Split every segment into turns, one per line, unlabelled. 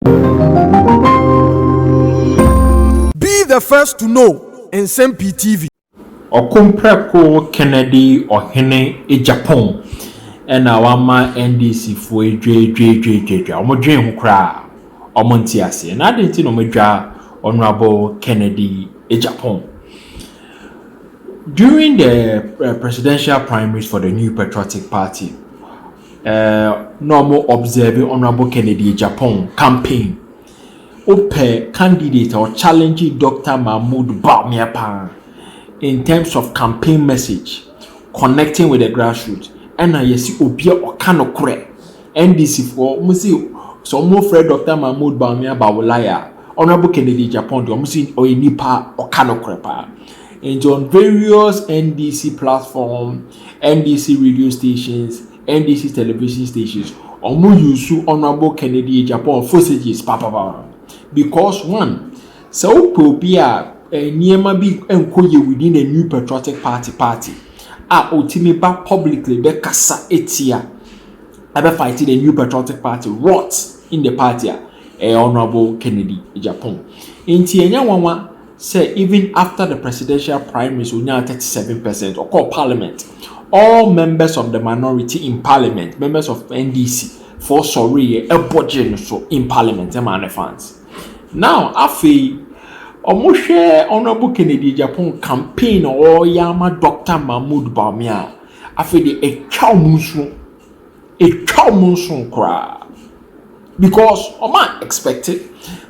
Be the first to know Nsɛm Pii TV. Ɔkomprɛko
Kennedy Ɔhene Agyapong na wama NDC foɔ yi dwadwadwadwadwa. Wɔn dwen ho koraa a, wɔn nte aseɛ. Na adɛn nti na wɔn adwa Honourable Kennedy Agyapong? During the presidential primaries for the New Patriotic Party, na ɔmo observe Honourable Kennedy Agyapong campaign. Wopɛ candidate a ɔchallenge Dɔkta Mahmood Bawumia paa in terms of campaign message, connecting with the grassroots, ɛna yɛsi obi a ɔka nokorɛ. NDC foɔ, ɔmo si sɛ ɔmo frɛ Dɔkta Mahmood Bawumia Bawulaya a, Honourable Kennedy Agyapong deɛ ɔmo si ɔyɛ nipa a ɔka nokorɛ paa. Nti on various NDC platform, NBC radio stations, NBC television stations, ɔmo use Honourable Kennedy Agyapong fosages papapapa because one, sɛ wopɛ obi a nneɛma bi nkɔ yie within a new patriotic party party a otumi ba publicly bɛkasa etia ɛbɛ fight the new patriotic party rot in the party a ɛyɛ Honourable Kennedy Agyapong nti ɛnyɛ nwanwa. sɛ even after the presidential primaries onyaa thirty seven percent ɔkɔɔ parliament all members of the minority in parliament members of NDC foɔ sɔreeɛ ɛbɔ gyee no so in parliament ɛmaa ne fans now afei wɔhwɛ honourable Kennedy Agyapong campaign a ɔreyɛ ama Doctor Mahmoud Bawumia a afei deɛ atwa wɔn nsuo. Etwa wɔn nso koraa because wɔn a expect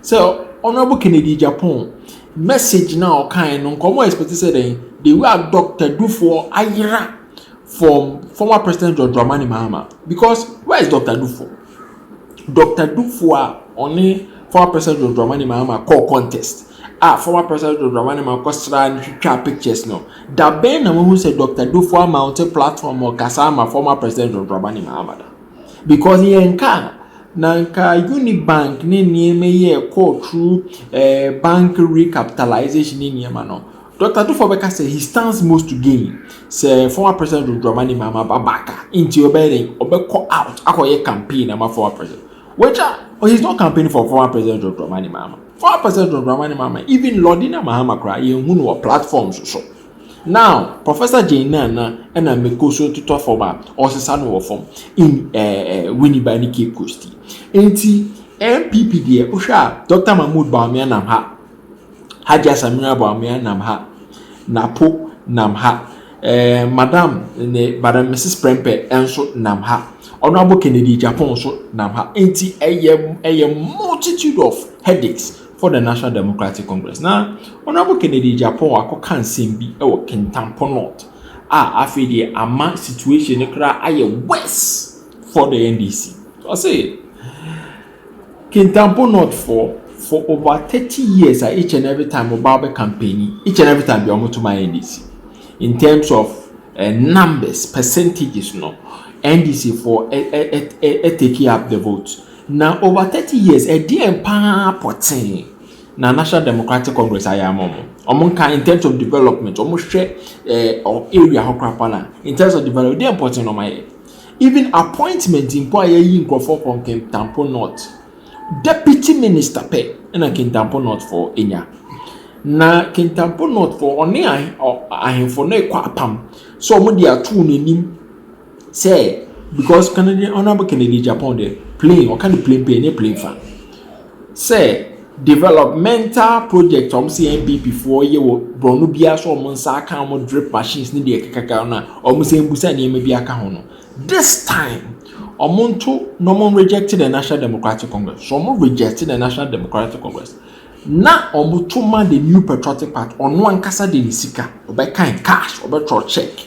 sɛ honourable Kennedy Agyapong message no a ɔkaeɛ no nka wɔn expect sɛ dɛn the way a Doctor Dufoɔ ayera from former president John Dramani Mahama because where is Doctor Dufoɔ? Doctor Dufoɔ a ɔne former president John Dramani Mahama kɔɔ contest a former President John Dramani Mahama kɔsraa no twitwaa pictures no, da bɛn na wahu sɛ Dr. Duffuor amounte platform ma ɔkasa ama former President John Dramani Mahama da? Because yɛnka a, na nka Unibank ne nneɛma yi a ɛkɔɔ through eh, bank recapitalization ne nneɛma no, Dr. Duffuor bɛka sɛ he stands most to gain sɛ former President John Dramani Mahama ba back a, nti ɔbɛyɛ dɛn? Ɔbɛkɔ out akɔyɛ campaign ama former President, which a, he's not campaigning for former President John Dramani Mahama. Fa wopɛ sɛ John Dramani Mahama even Lordina Mahama koraa yɛnhu no wɔ platforms so now Professor Jane Nana ɛna Meko so totɔ fam a ɔsesa no wɔ fam in eh, eh, Winneba ne Cape Coast yi nti NPP deɛ wohwɛ a Dr Mahmood Bawumia nam ha Hajia Samira Bawumia nam ha Napo nam ha Eh, Madam ne Madam Mrs. Prempeh nso nam ha. Honorable Kennedy Agyapong nso nam ha. Enti ɛyɛ ɛyɛ multitude of headaches for the National Democratic Congress. Na Honorable Kennedy Agyapong akɔka nsɛm bi wɔ Kintampo North a afei deɛ ama situation no koraa ayɛ worse for the NDC. Ɔse Kintampo North foɔ for over thirty years a each and every time wɔba bɛ campaigni, each and every time deɛ wɔto ma NDC. In terms of eh, numbers, percentages no, NDC foɔ ɛ ɛ ɛ ɛ ɛ take up the vote. Na over thirty years, ɛdeɛn paa pɔtee na National Democratic Congress ayɛ ama wɔn? Wɔn nka in terms of development, wɔn hwɛ eh, area hɔ koraa paa na in terms of development, ɛdeɛn pɔtee na wɔn ayɛ? Even appointment mpo a yɛyi nkurɔfoɔ kɔ Kintampo North, Deputy Minister pɛ na Kintampo North foɔ nya. Na Kintampo North foɔ ɔne ahemfo no rekɔ apam sɛ wɔn de ato wɔn anim sɛ because Kennedy Honourable Kennedy Agyapong deɛ plane ɔka ne plane pɛ ɛnyɛ plane fa. sɛ developmental project a wɔn sɛ yɛn NPP foɔ yɛ wɔ borɔno biara so wɔn nsa aka wɔn drip machines ne deɛ ɛkekaka no a wɔn sɛ mbusa nneɛma bi aka ho no this time wɔn nto na wɔn reject the National Democratic Congress so wɔn reject the National Democratic Congress na wɔn to ma the new patriotic party ɔno ankasa de ne sika ɔbɛkan cash ɔbɛtɔ check.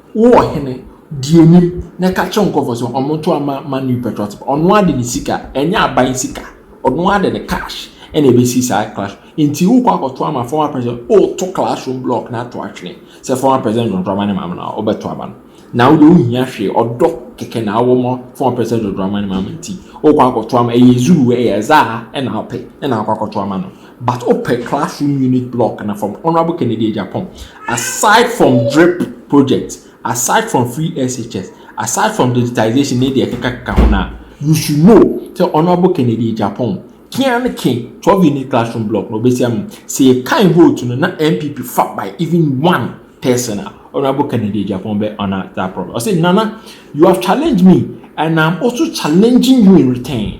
Wo ɔhene, di anim na ka kyerɛ wo nkurɔfoɔ sɛ wɔnto ama ma new petrol te ba. Ɔno ara de ne sika, ɛnyɛ aban sika, ɔno ara de ne cash na ɛbɛsi saa class. Nti wokɔ akɔto ama former president, woreto classroom block no ato atwene sɛ former president John Dramani Mahama na wobɛto aba no. Na wo deɛ wonhia hwee, ɔdɔ kɛkɛ na wowɔ ma former president John Dramani Mahama nti wokɔ akɔto ama, ɛyɛ Zulu, ɛyɛ Zaa na wopɛ na wokɔ akɔto ama no. But wopɛ classroom unit block no from Honourable Kennedy Agyapong, aside from drip project, aside from free SHS, aside from digitisation ne deɛ ɛkekakeka ho no a, you should know sɛ Honourable Kennedy Agyapong ke ara ne ke 12 unit classroom block no ɔbɛsi ama mu. Sɛ yɛkan vote no na NPP fa by even one person a, Honourable Kennedy Agyapong bɛ honour that promise. Ɔse Nana, you have challenged me and I'm also challenging you in return.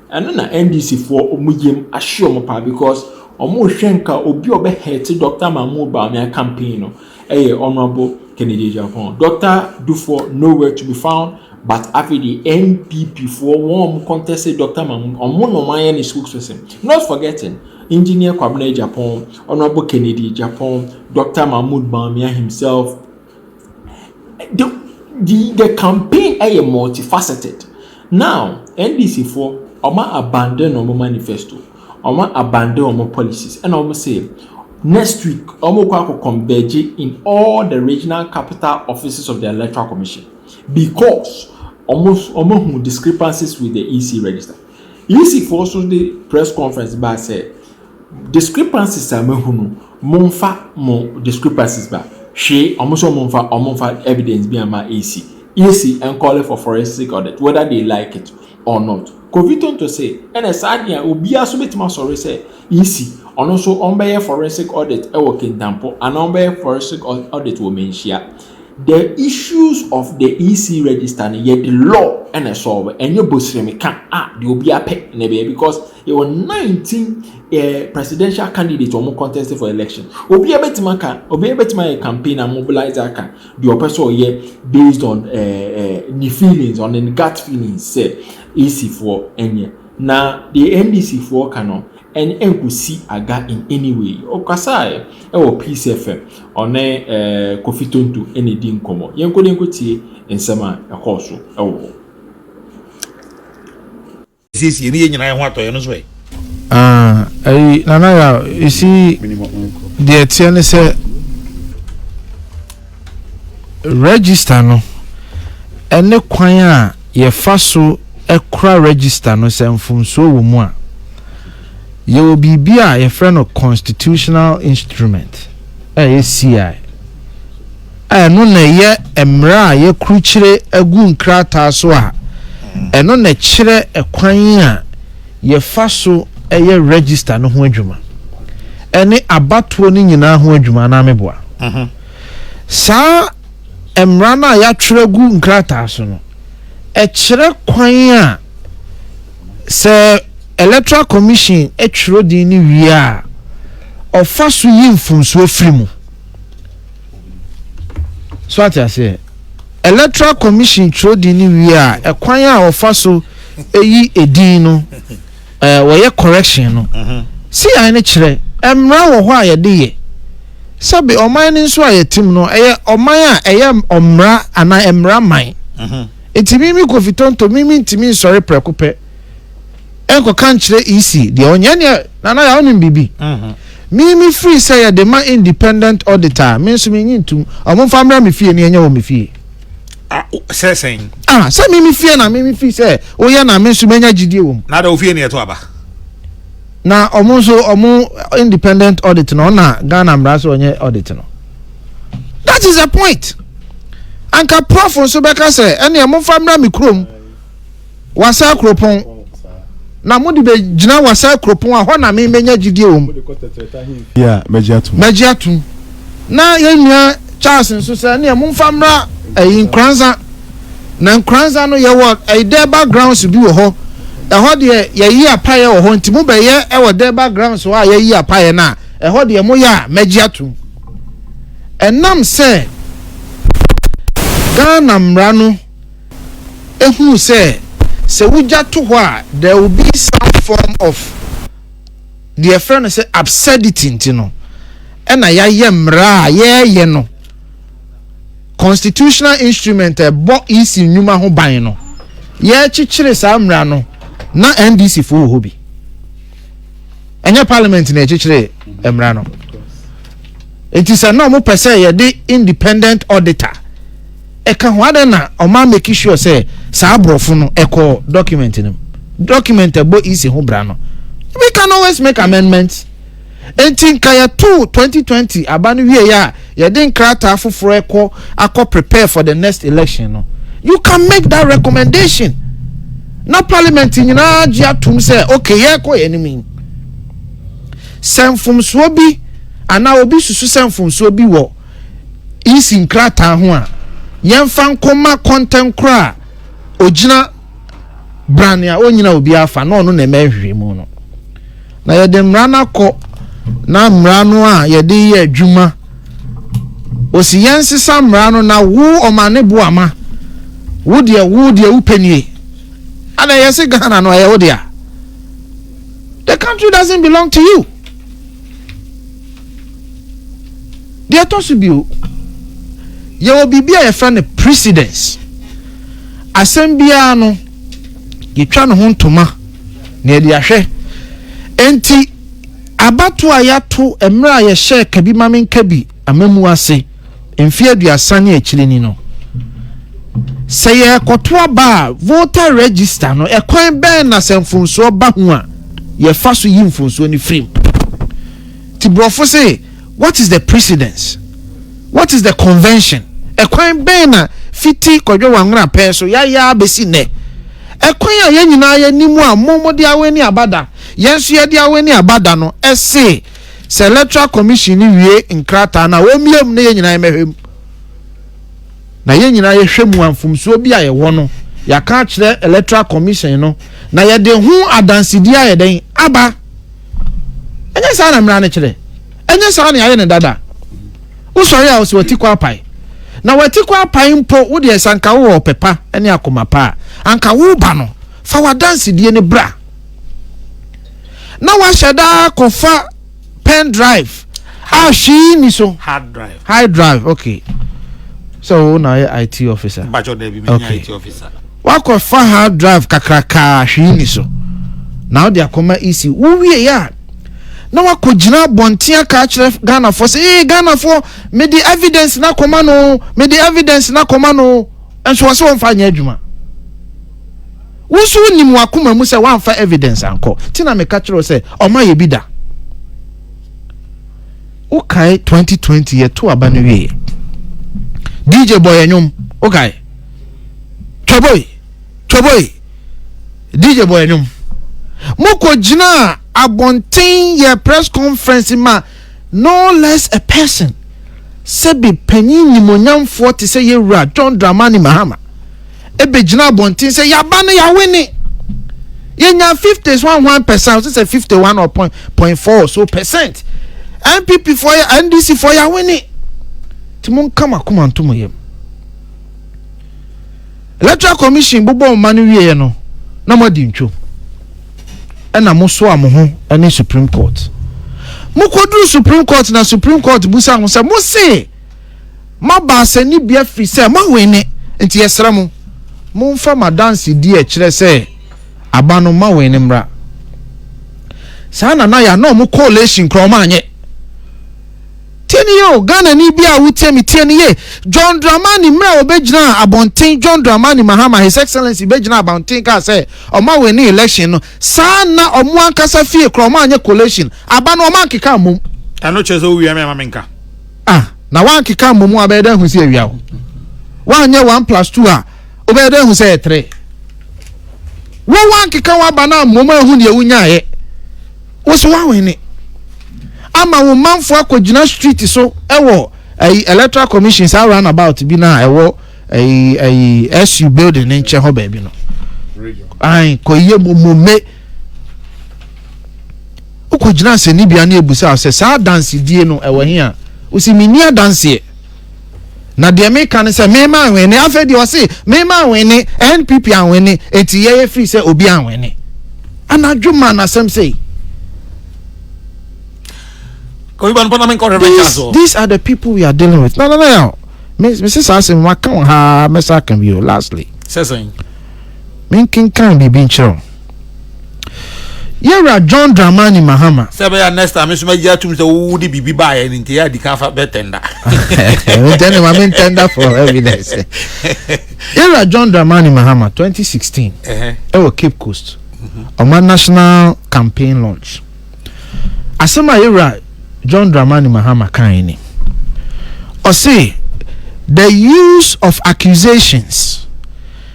Ɛno na NDC foɔ wɔn yam ahye wɔn paa because wɔn rehwɛ nka obi a ɔbɛ hɛte Doctor Mahmoud Bawumia campaign no ɛyɛ Honourable Kennedy Agyapong. Doctor Dufour no where to be found but afei deɛ NPP foɔ wɔn a wɔn conteste Doctor Mahmoud wɔn na wɔn ayɛ ne spokesperson. Not forgetting Engineer Kwabena Agyapong, Honourable Kennedy Agyapong, Doctor Mahmoud Bawumia himself, The the the campaign yɛ multi faceted. Now, NDC foɔ, wɔn a abandon wɔn manifesto, wɔn a abandon wɔn policies, ɛna wɔn se next week wɔn kɔ akɔ converge in all the regional capital offices of the electoral commission because wɔn wɔn ahu discrepancies with the EC register. EC foɔ nso de press conference baa sɛ. Discrepancies a mahu no, momfa mo discrepancies ba. Hwee, wɔn nso wɔmfa, wɔmfa evidence bi ama EC. EC nkɔɔle for forensic audit whether they like it or not. Kofi Tonto se, ɛna saa adeɛ a obiara nso bɛtumi asɔre sɛ EC, ɔno nso wɔbɛyɛ forensic audit wɔ Kintampo anaa wɔbɛyɛ forensic audit wɔ Manhyia. The issues of the EC register no, yɛde law na ɛsɔɔbo, ɛnyɛ bosremeka a deɛ obiara pɛ na ɛbɛyɛ because Yɛwɔ nineteen ɛɛ presidential candidate a wɔn contest for election. Obiara bɛtumi aka, obiara bɛtumi ayɛ campaign a mobilize aka deɛ ɔpɛ sɛ ɔyɛ based on ɛɛ ɛɛ ne feelings on ne gut feelings sɛ AC foɔ ɛnyɛ. Na deɛ NDC foɔ ka no ɛn ɛnkosi aga in any way. Ɔkasaɛ ɛwɔ Peace FM, ɔne ɛɛ Kofi Tonto ɛna edi nkɔmɔ. Yɛnkɔ na yɛnkɔ tie nsɛm a ɛkɔɔ so ɛwɔ hɔ.
siesie ne
yɛ nyinaa yɛ ho atɔ yɛ no so ɛ. ɛyi nana ya esi deɛ teɛ ne sɛ register no ɛne kwan a yɛfa so ɛkora register no sɛ mfomsoɔ wɔ mu a yɛwɔ biribi a yɛfrɛ no constitutional instrument ɛyɛ CI a ɛno na ɛyɛ mmara a yɛakrukyire agu nkrataa so a ɛno na ɛkyerɛ kwan a yɛfa so yɛ register no ho adwuma ɛne abatoɔ no nyinaa ho adwuma anaa meboa mhm. saa mmara no a yɛatwerɛ agu nkrataa so no ɛkyerɛ kwan a sɛ electoral commission twerɛ din no wie a ɔfa so yi mfomsoɔ firi mu so ate aseɛ electoral commission twerɛdin no wie a ɛkwan a wɔfa so ɛyi edin no ɛɛ wɔyɛ correction no mhm. si yan no kyerɛ mmara wɔ hɔ a yɛde yɛ sɛbi ɔman no nso a yɛtim no ɛyɛ ɔman a ɛyɛ ɔmmara anaa mmara man mhm. nti mimi kofi tonto mimi ntumi nsɔre prɛko pɛ. ɛnkɔka nkyerɛ EC deɛ ɔnyɛ neɛ nana yɛ wonim biribi mhm. me me firi sɛ yɛde ma independent auditor me nso menyi ntom ɔmo mfa mmra me fie ne ɛnyɛ wɔ me fie sɛ
sɛn ah sɛ me me fie
na me me firi sɛ woyɛ na me nso menya gyidie wɔ mu na da ofie ne ɛto aba
na
ɔmo nso ɔmo independent audit no ɔna ghana mmara so ɔnyɛ audit no that is the point anka prof nso bɛka sɛ ɛne ɛmo mfa mmra me kurom w'asɛe kuropɔn na mo de bɛgyina w'asɛe kuropɔn a hɔ na me mɛnya gyidie wɔ mu
mɛgye atom na yɛn nua charles nso sɛ neɛ momfa mmra ɛyi nkoransa
na nkoransa no yɛwɔ ɛyi dɛ backgrounds bi wɔ hɔ ɛhɔ deɛ yɛyi apaeɛ wɔ hɔ nti mobɛyɛ ɛwɔ dɛ backgrounds hɔ a yɛyi apaeɛ no a ɛhɔ deɛ moyɛ a mɛgye atom ɛnam sɛ ghana mmara no ehuu sɛ sɛ wogya to hɔ a there will be some form of deɛ ɛfrɛ no sɛ absurdity nti no ɛna yɛayɛ mmara a yɛreyɛ no constitutional instrument a ɛbɔ ec nnwuma ho ban no yɛrekyekyere saa mmara no na ndc fo wɔ hɔ bi ɛnyɛ parliament na ɛkyekyere mmara no nti sɛ na wɔpɛ sɛ yɛde independent auditor Ɛka ho adɛn na ɔma make sure sɛ saa aborɔfo no ɛkɔ document no mu? Document a ɛbɔ EC ho bra no, we can always make amendments. Enti nka yɛto 2020 aba no wie a yɛde nkrataa foforɔ ɛkɔ akɔ prepare for the next election no. You can make that recommendation. Na parliament nyinaa gye atom sɛ okay yɛkɔ yɛn anim yi. Sɛ mfomsoɔ bi anaa obi susu sɛ mfomsoɔ bi wɔ EC nkrataa ho a, yɛmfa nkɔma kɔntɛnkorɔ a ɔgyina brane a ɔnnyina obi afa na ɔno na ɛma nhwehwɛmu no na yɛde mmara no akɔ na mmara no a yɛde yɛ adwuma ɔsi yɛnsesa mmara no na wo ɔmane boama wo deɛ wo deɛ wo penie ana ɛyɛ se ghana no ɛyɛ wo deɛ the country doesn't belong to you Deɛ ɛtɔ so bio, yɛwɔ biribi a yɛfrɛ no precedence. Asɛm biara no, yɛtwa ne ho ntoma na yɛde ahwɛ. Enti, abato a yɛato mmerɛ a yɛhyɛɛ ka bi ma menka bi amamu ase. mfe aduasa ne akyiri ni no, sɛ yɛrekɔto aba a, voter register no, ɛkwan bɛn na sɛ mfonsoɔ ba ho a, yɛfa so yi mfonsoɔ no firim? Ti borɔfo se, what is the precedence? What is the convention? Ɛkwan bɛn na fiti kɔdwe wanwera pɛɛ so yɛayɛ abɛsi nnɛ? Ɛkwan a yɛn nyinaa yɛnim a mo mode awɛne abada, yɛn nso yɛde awɛne abada no, ɛse, sɛ electoral commission no wie nkrataa no a wɔmmie mu na yɛn nyinaa mmɛhwɛ mu na yɛn nyinaa yɛhwɛ mu a mfomsoɔ bi a yɛwɔ no yɛaka akyerɛ electoral commission no na yɛde ho adansedi ayɛ dɛn aba ɛnyɛ saa na mmara no kyerɛ ɛnyɛ saa na yɛayɛ no dada wosɔre a wɔsɛ wɔti kɔ apae na wɔati kɔ apae mpo wodeɛ sɛ anka wowɔ ɔpɛ pa ne akoma pa a anka woba no fa w'adansedie no bra na wahyɛ da kɔfa pen drive a hwee ni so hard drive hard drive okay sɛ wo na ayɛ it officer bàtjọ dẹbi mi nya it
officer wakɔfa
hard drive kakrakaa hwee ni so na ɔde akɔma ec wowie yɛ a na wakɔ gyina abɔnten aka akyerɛ ghanafoɔ sɛ ee ghanafoɔ mede evidence na kɔma no mede evidence na kɔma no nso wɔn sɛ wɔn fa nyɛ adwuma. Wo nso wonim w'akoma mu sɛ woamfa evidence ankɔ. Nti na meka kyerɛ wo sɛ ɔma yɛ bi da. Wokae 2020 yɛto aba no wieɛ. DJ bɔ yɛ nnwom. Wokae. Twaboi. Twaboi. DJ bɔ yɛ nnwom. Mokɔ gyinaa abɔnten yɛ press conference ma No less a person sɛbe panyin nimuonyamfoɔ te sɛ yɛn wura John Dramani Mahama ɛbɛgyina abɔnten sɛ yaba no yawene yɛnya 50s one one percent ɔsɛ sɛ 51 or point, point four so percent npp foɔ yɛ ndc foɔ yawene nti mo nka mo akoma nto mo yam Electoral Commission bobɔ mma no wieɛ no na moadi ntwom ɛna mosoa mo ho ne Supreme Court. Mokɔduru Supreme Court na Supreme Court busa ho sɛ mose moaba asɛnnibea firi sɛ moawene nti yɛsrɛ mo momfa madanse di ɛkyerɛ sɛ aba no moawene mmra. Saa na na yɛ ana ɔmo coalition kora ɔmo anyɛ. Tie no yie o, Ghanani bi a wotie me tie no yie, John Dramani mmerɛ a ɔbɛgyinaa abɔnten John Dramani Mahama His Excellency bɛgyinaa abɔnten kaa sɛ wɔn awini election no, saa nna wɔn ankasa fie koraa wɔn anyɛ collation, aba no wɔn ankeka mmom. Ɛno kyerɛ sɛ wowia
me ama me nka. Ah, na
woankeka mmom a bɛyɛ dɛ ahu sɛ awia wo. Woanyɛ one plus two a wobɛyɛ dɛ ahu sɛ yɛ tere. Wo woankeka w'aba no ammom ahu deɛ wonyaeɛ. Wo so woawene ama wo manfoɔ akɔgyina street so ɛwɔ ɛyi electoral commission saa run about bi na ɛwɔ ɛyi ɛyi SU building ne nkyɛn hɔ baabi no ayi kɔyɛ mumome wokɔgyina asɛnnibea ne ebusa sɛ saa adansedie no ɛwɔ he a wosi menni adanseɛ na deɛ meka ne sɛ mema anwene afei deɛ ɔse mema anwene npp anwene enti yɛyɛ firi sɛ obi anwene anadwo ma nasɛm sei These, these are the people we are dealing with. No, no, no, no. Mrs. Asim, I can't have Mr. Akambio lastly. Session.
Minkin
can be being chill. Yɛwura John Dramani Mahama. Sɛ ɛbɛyɛ next time nso
mɛgye atum sɛ wowu de biribi baeɛ no nti yɛ adi kan fa bɛ tɛnda. Ntɛnɛ
ma me ntɛnda for evidence. Yɛwura John Dramani Mahama 2016 ɛwɔ Cape Coast ɔma mhm. national campaign launch. Asɛm a yɛwura John Dramani Mahama kan ni. Ɔse the use of accusations.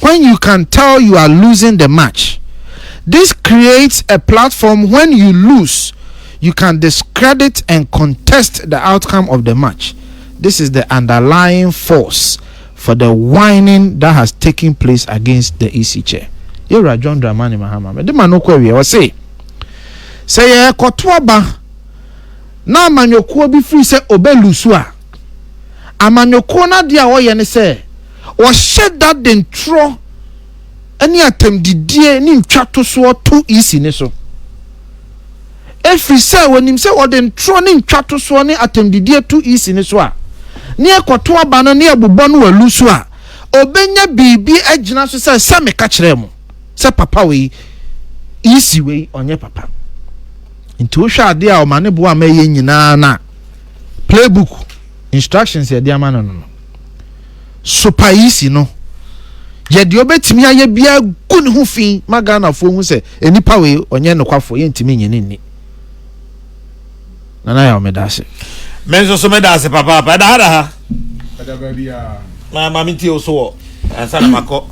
when you can tell you are losing the match this creates a platform when you lose you can discredit and contest the outcome of the match this is the underlying force for the whining that has taken place against the EC chair yɛwura John Dramani Mahama mede ma no kɔ awie ɔse sɛ yɛkɔto aba na amanyɔkuo bi firi sɛ ɔbɛlusu a amanyɔkuo no adeɛ a wɔyɛ ne sɛ wɔhyɛ da de ntorɔ ne atɛmdidie ne ntwatosoɔ to Isi no so. Ɛfiri sɛ wɔnim sɛ wɔde ntorɔ ne ntwatosoɔ ne atɛmdidie to Isi no so a, ne ɛkɔto aba no ne ɛbobɔ no alu so a, ɔbɛnya biribi agyina so sɛ, sɛ meka kyerɛɛ mo sɛ papa wei, Isi wei, ɔnyɛ papa. Nti wohwɛ adeɛ a ɔma ne boa ma ɛyɛ nyinaa na playbook instructions yɛde ama no no. Supaisi no yɛ deɛ ɔbɛtumi ayɛ biara gu ne ho fi ma Ghanafoɔ hu sɛ nnipa wei ɔnyɛ nokwafoɔ yɛntumi nye ne nni. Nana Yaw meda ase. Me nso so
meda ase papaapa. Ɛda ha da ha. Ɛda baabi
a. Ma ma mentie wo
so wɔ ansa na makɔ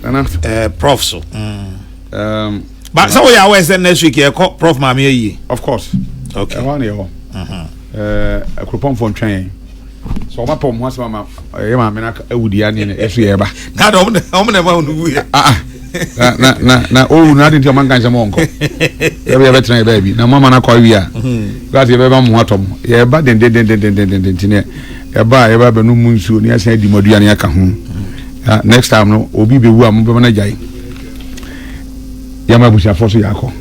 Nana. eh,
prof so.
Mm. Um, Ba sɛ woyɛ awɛ sɛ next week yɛkɔ prof maame ayie. of course.
Okay. Ɛhɔ a na yɛwɔ. Mhm. Eh, Akuropɔnfoɔ ntwɛn yɛn. sɛ ɔma pɔ ɔmo asɛm ama ɛyɛ maame na ewu di ani na esu yɛ ɛba. na ɔmo na ɔmo na
ɛma ɔno wu yɛ. Ah, ah. na
na na na owu na adi nti ɔmo nka nsɛm ɔnkɔ ɛbi yɛ bɛ tena yɛ bɛɛ bi na mo ama na kɔ awi a gilasi yɛ bɛ ba mo atɔ mo yɛ ɛba dendendendendenden nti ne ɛba a yɛ bɛ abɛnum mu nsuo ne asan adi mo aduane aka ho ah, next time no obi bɛ wu a mo bɛ ma na gya yi yɛ ma abusuafoɔ so yɛ akɔ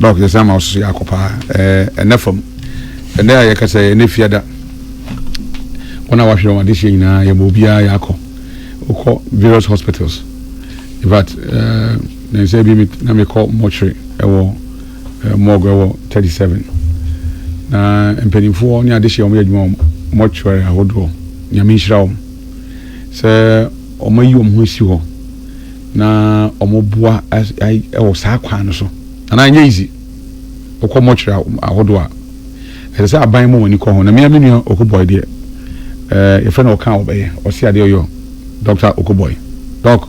dɔk yɛ sɛ ama ɔsoso yɛ akɔ paa ɛɛ ɛnɛ fam ɛnɛ a yɛ kasa yɛ ɛnɛ fiada. wɔn a wɔahwere wɔn adehyeɛ nyinaa yɛbɔ obiara yɛakɔ wokɔ various hospitals in fact eh, ne nsɛ bi na mekɔ mortuary ɛwɔ eh, morgue ɛwɔ 37 na mpanimfoɔ ne adehyeɛ wɔn yɛ adwuma wɔ mortuary ahodoɔ nyame nhyira wɔn sɛ wɔn ayi wɔn ho asi hɔ na wɔn boa ɛwɔ saa kwan no so anaa nyɛ easy wokɔ mortuary ahodoɔ a Ɛsɛ sɛ aban ma wɔn ani kɔ ho. Na me ara me nua Okoboi deɛ, eh, yɛfrɛ no ɔka a ɔbɛyɛ, ɔse adeɛ ɔyɔ, Doctor Okoboi, Doc.